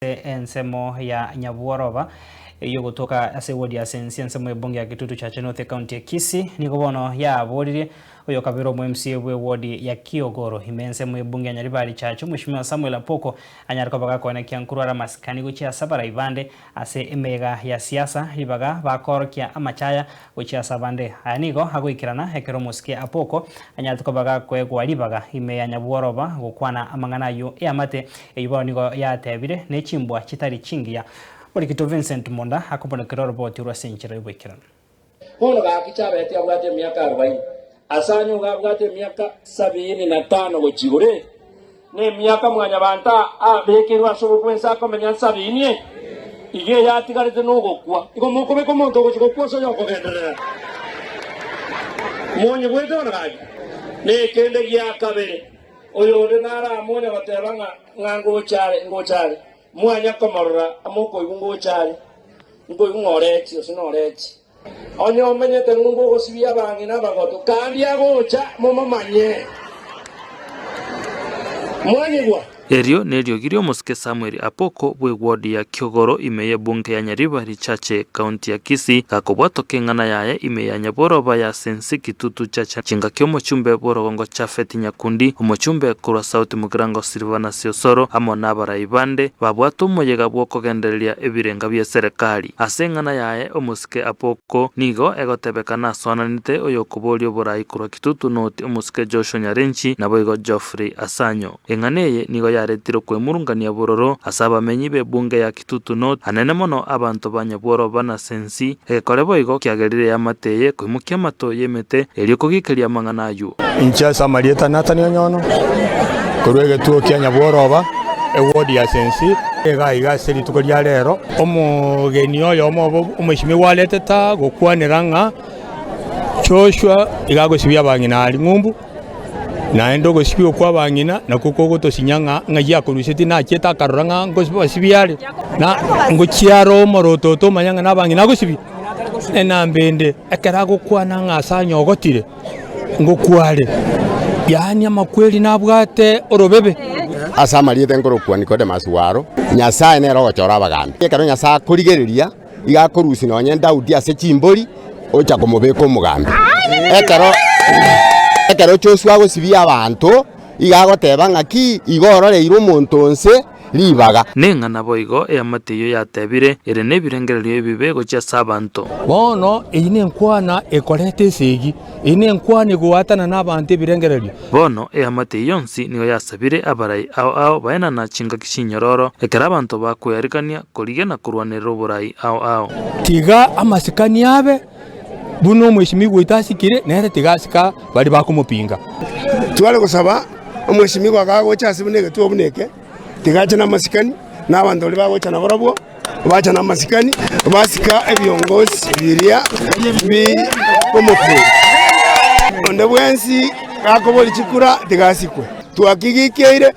ase ensemo ya nyabworoba ey'ogotoka ase ewodi ya Asensi, ensemo y'ebunge ya Kitutu Chache North Ekaunti ya Kisii, nigo bono yaaboririe oyokabeire omw'MCA bw'ewodi ya Kiogoro ime ensemo y'ebunge ya Nyaribari Chache, Mweshimiwa Samuel Apoko, anyare koba gakoena Kiankuru are amasikani gochia ase abarai bande ase emeyega ya siasa, ribaga bakoorokia amachaya gochia ase abande. Aya nigo agoikerana ekero omosike Apoko anyarete koba gakoegwa ribaga ime ya nyabworoba gokwana amang'ana ayio eamate Eyio bono nigo yatebire ne chimbwa chitari chingiya. Morikinto Vincent Munda akomonokera oroboti orwa ase enchera y'oboikeranu. Bono gaki chabeti abwate emiaka arobaini, as'anyio iga abwate emiaka sabiini na tano gochia igure, nemiaka mwanyabanto abekerwe as'obo bwensi akomenya nsa binie, iga eyatigarete nogokwa. Igo mokobeka omonto ogochia gokwa ase oyokogenderera monyigwete bono gaki nekende giakabere. Oyonde naramonya goteba ng'a, Ng'a ngocha are, ngocha are, mwanya komorora, amo okoigwa ngocha are, nkoigwa ng'a orechi, gose norechi. Onye omenyete ng'o ngogosibia abang'ina abagotu, kandi agocha, momomanye. Mwanyigwa? Erio neriogi ri'omosike Samueli Apoko bw'egwood ya Kiogoro ime y'ebunke ya Nyariba, chache county ya Kisii gakobwatwa keng'ana yaye ime ya nyabworoba ya Sensi Kitutu Chacha chingaki omochumbe bworogongo Japhet Nyakundi, omochumbe korwa South Mugirango Silvanus Osoro amo nabarai bande babwatwe omoyega bwokogendereria ebirenga bi'eserekari. Ase eng'ana yaye omosike Apoko nigo egotebeka nasoananete oyokoboria oborai korwa Kitutu North omosike Joshua Nyarenchi naboigo Geoffrey Asanyo. Eng'ana eye nigo yaretire okwemurungania bororo ase abamenyi b'ebunge ya Titutu noti anene mono abanto ba nyabworoba na sensi, egekore boigo kiagerire eamate eye koimokia amato y'emete, erio kogikeria amang'ana ayio. Inche ase amarieta Nathan Onyono, korwa egetuo kia Nyabworoba, ewodi ya sensi, iga iga ase rituko ria rero, omogeni oyomo obo omwesimia gwareteta gokwanera ng'a Joshua iga agosibia abang'ina a ring'umbu. Naende ogosibigwa kw'abang'ina nakwo kogotosinyia ng'a ng'ai akorusetie nachiete akarora ng'a nkobasibia are, na ngochia are omoroto oto omanye ng'a nabang'ina agosibia. Enamba ende ekero agokwana ng'a ase anyogotire, ngokware, yaani amakweri nabwate orobebe. Ase amarieta enkorokwa Nikodemasi waro, Nyasae nere ogochora abagambi. Ekero Nyasae akorigereria Iga akorusia nonye Daudi ase chimbori, ocha komobeka omogambi. Ekero ekero Joshua agosibia abanto, iga agoteba ng'aki, Igo ororeire omonto onse ribaga. Ning'a naboigo eamate eyio yatebire, ere nebirengererio ebibe gochia ase abanto. Bono eyio nenkwana ekoreta esegi, eyio nenkwana egoatana nabanto ebirengererio. Bono eamate eyio yonsi nigo yasabire abarai ao ao baenana chingaki chinyororo, ekero abanto bakoearigania. Korigena korwanerera oborai ao ao. Tiga amasikani abe buna omwesimigwa oito asikire, nere tiga asike baria bakomopinga. Tware gosaba omwesimigwa kagocha ase buna egetuo buna eke, tiga ache namasikani, na abanto baria bagocha nabarabwo bacha namasikani, basika ebiongozi biria bikomokunda. Onde bwensi gakoboria chikura, tiga asikwe. Twakigikeire.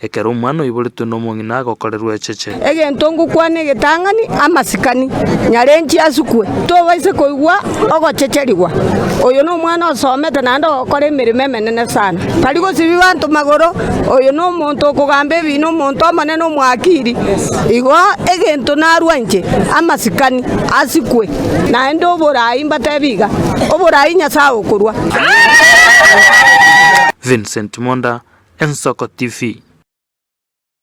Ekero omwana oiboretwe nomong'ina agokorerwa echeche. Egento ngokwana egetang'ani amasikani, nyarenche asukwe, tobaisa koigwa ogochecherigwa. Oyo nomwana osomete naende ogokora emeremo emenene sana. Tari gosibia banto magoro, oyo nomonto okogamba ebiina omonto omonene omoakiri. Igo egento narwa inche, amasikani asikwe. naende oboraai mbatebi iga, Oboraai Nyasae okorua. Vincent Mwonda, Ensoko TV.